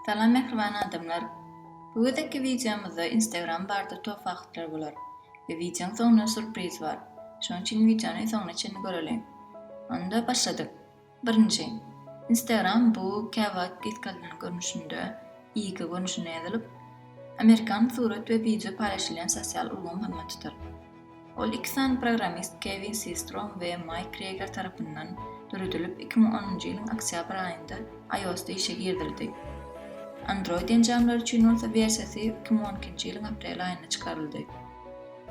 Salam mähriban adamlar! Bu gezekki wideomyzda Instagram barda top faktlar bolar we wideoň soňunda surpriz bar. Şonuň üçin wideony soňuna çenli göreliň. Onda başladyk! Birinji, Instagram bu käwagt diskalinan görnüşinde, IG görnüşinde ýazylyp, amerikan surat we wideo paýlaşylýan sosial ulgam hyzmat tutar. Ol iki sany programmist Kewin Sistrom we Maýk Kreýger tarapyndan döredilip iki müň onunjy ýylyň oktýabr aýynda iOS-da işe girizildi. Android enjamlary üçin bolsa wersiýasy iki müň on ikinji ýylyň aprel aýynda çykaryldy.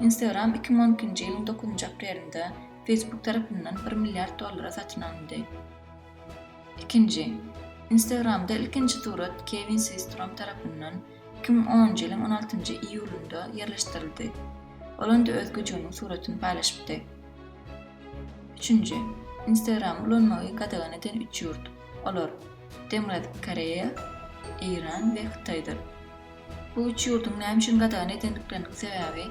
Instagram iki müň on ikinji ýylyň dokuzynjy aprelinde Facebook tarapyndan bir milliard dollara satyn alyndy. Ikinji. Instagramda ilkinji surat Kewin Swistrom tarapyndan iki müň onunjy ýylyň on altynjy iýulynda ýerleşdirildi. Ol onda öz güjüginiň suratyny paýlaşypdy. Üçünji. Instagramy ulanmagy gadagan eden üç ýurt. Olar, Demirgazyk Koreýa, Eýran we Hytaýdyr. Bu üç ýurduň näme üçin gadagan edendikleriniň sebäbi,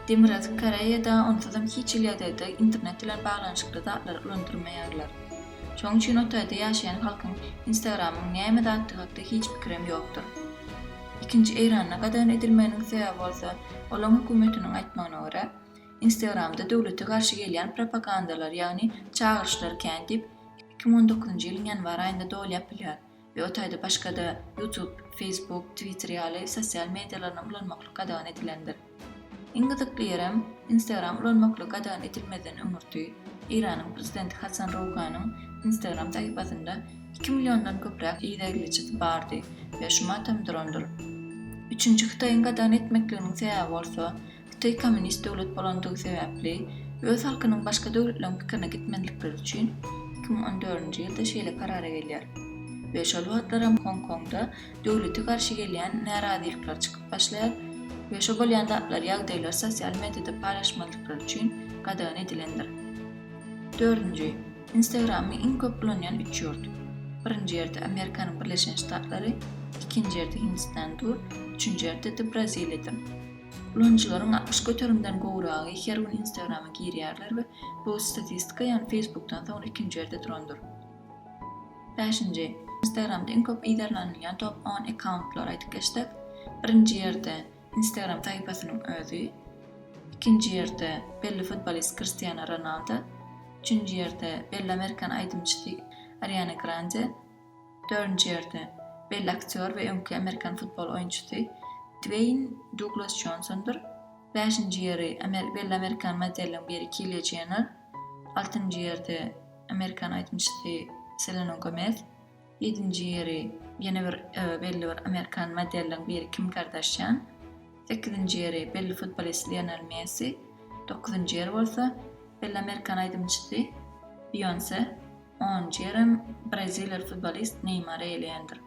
Demirgazyk Koreýada onsuzam hiç hili ýagdaýda internet bilen baglanyşykly zatlary ulandyrmaýarlar. Şonuň üçin o taýda ýaşaýan halkyň Instagram-yň näme zatdygy hakda hiç pikirem ýokdur. Ikinji Eýranda gadagan edilmeginiň sebäbi bolsa, olaň hökümetiniň aýtmagyna görä, Instagram-da döwlete garşy gelýän propagandalar, ýagny çagyryşlar kän diýip, iki müň on dokuzynjy ýylyň ýanwar aýynda doly ýapylýar. we o taýda başga-da YouTube, Facebook, Twitter ýaly sosial medialaryny ulanmaklyk gadagan edilendir. Iň gyzykly ýerem, Instagram ulanmaklyk gadagan edilmezden öňürti, Eýranyň prezidenti Hasan Rouhanyň Instagram sahypasynda iki milliondan köpräk idegleçisi bardy we şumat hem durandyr. Üçünji Hytaýyň gadagan etmekliginiň sebäbi bolsa, Hytaý kommunist döwlet bolandygy sebäpli, öz halkynyň başga döwletleriň pikirine gitmezlikleri üçin iki müň on dördünji ýylda şeýle karara gelýär we şol wagtlaram Hong Kongda döwlete garşy gelýän närazylyklar çykyp başlaýar we şo bolýan zatlar ýagdaýlar sosial mediada paýlaşmazlyklary üçin gadagan edilendir. Dördünji, Instagramy iň köp ulanýan üç ýurt. Birinji ýerde Amerikanyň Birleşen Ştatlary, ikinji ýerde Hindistan dur, üçünji ýerde de Braziliýadyr. Ulanyjylaryň altmyş göterimden gowragy her gün Instagrama girýärler we bu statistika, ýagny Facebookdan soňra ikinji ýerde durandyr. Bäşinji, Instagramda iň köp yzarlanylýan top on akkauntlary aýdyp geçsek, birinji ýerde Instagram sahypasynyň özi, ikinji ýerde belli futbolist Kristiano Ronaldo, üçünji ýerde belli amerikan aýdymçysy Ariana Grande, Dördünji ýerde, belli aktýor we öňki amerikan futbol oýunçysy Dweýn Duglas Jonsondyr. Bäşinji ýeri, belli amerikan modeliň biri Kilýa Jenner. Altynjy ýerde, amerikan aýdymçysy Selena Gomez. Ýedinji ýeri, ýene bir belli bir amerikan modeliň biri Kim Kardaşýan. Sekizinji ýeri, belli futbolist Lionel Messi. Dokuzynjy ýer bolsa, belli amerikan aýdymçysy Beýonse. on jerem braziliýaly futbolist Neýmary eýleýändir.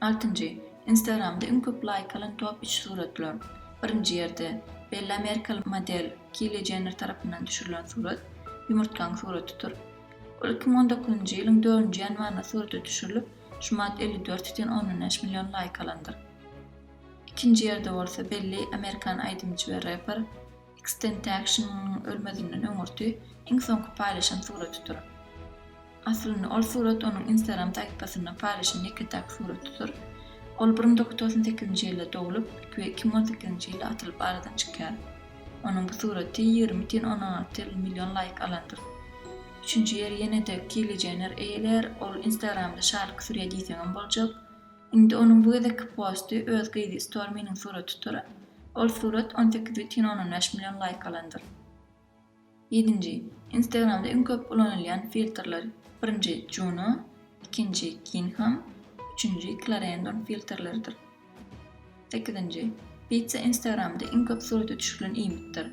Altynjy, Instagramda iň köp laýk alan top üç suratlar. Birinji ýerde, belli amerikaly model Kili Jenner tarapyndan düşürilen surat, ýumurtgaň suratydyr. Ol iki müň on dokuzynjy ýylyň dördünji ýanwarynda surata düşürilip, şumat elli dört ýüzden ondan bäş million laýk alandyr. Ikinji ýerde bolsa belli amerikan aýdymçy we reper, Xtentaction-yň ölmezinden öňürti iň soňky paýlaşan suratydyr. Aslynda ol surat onuň Instagram sahypasynda paýlaşan ýeke-täk suratydyr. Ol bir müň dokuz ýüz togsan sekizinji ýylda doglup we iki müň on sekizinji ýylda atylyp aradan çykýar. Onuň bu suraty ýigrimi tn ondan artyl million laýk alandyr. Üçünji ýeri ýene-de Kylie Jenner eýelär, ol Instagramda şalyk sürýär diýseňem boljak. Indi onuň bu gezekki posty öz gyzy Storminiň suratydyr. Ol surat on sekiz bütin ondan bäş million laýk alandyr. Ýedinji, Instagramda iň köp ulanylýan filtrler, birinji, Juno, ikinji, Gingham, üçünji, Clarendon filtrleridir. Sekizinji, Pizza Instagramda iň köp surata düşürilen iýmitdir.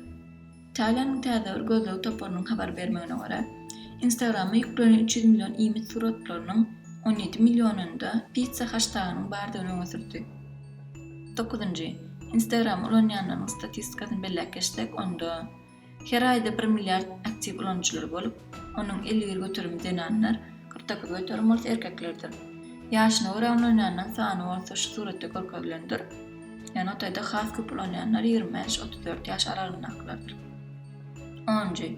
Italiýanyň täze bir gözleg toparynyň habar bermegine görä, Instagrama ýüklenen üç ýüz million iýmit suratlarynyň on ýedi millionynda pizza haştagynyň bardygyny öňe sürdi. Dokuzynjy, Instagramy ulanýanlaryň statistikasyny belläp geçsek, onda Her aýda bir milliard aktiw ulanyjylary bolup, onuň elli bir göterimi zenanlar, kyrk dokuz göterim bolsa erkeklerdir. Ýaşyna görä ulanýanlaryň sany bolsa şu suratda görkezilendir. Notaýda has köp ulanýanlar ýigrimi bäş, otuz dört ýaş aralygyndakylardyr. Onunjy.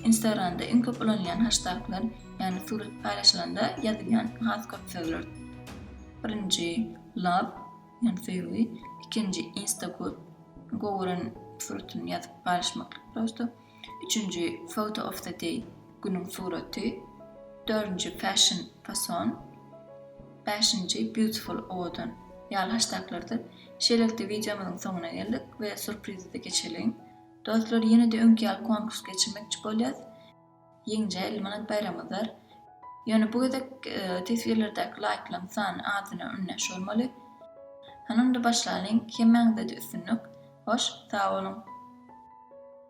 Instagramda iň köp ulanylýan haştaglar, ýagny surat paýlaşylanda ýazylýan has köp sözlerdir. Birinji, Love. Ýöne söýgi ikinji insta koyup gowuren suratyn ýazyp paýlaşmaklyk prosto, üçünji photo of the day günüň suraty, dördünji fashion fason, bäşinji beautiful owadan ýaly haştaklardyr. Şeýlelikde wideomyzyň soňuna geldik we surprizede geçeliň. Dostlar ýenede öňki ýaly konkurs geçirmekçi bolýas. Ýeňijä elli manat baýramydyr. Ýöne bu gezek teswirlerdäki laýklaň sany adyna öňdeş bolmaly. Hany onda başlalyň hemmäňizede üstünlik. Hoş sag boluň.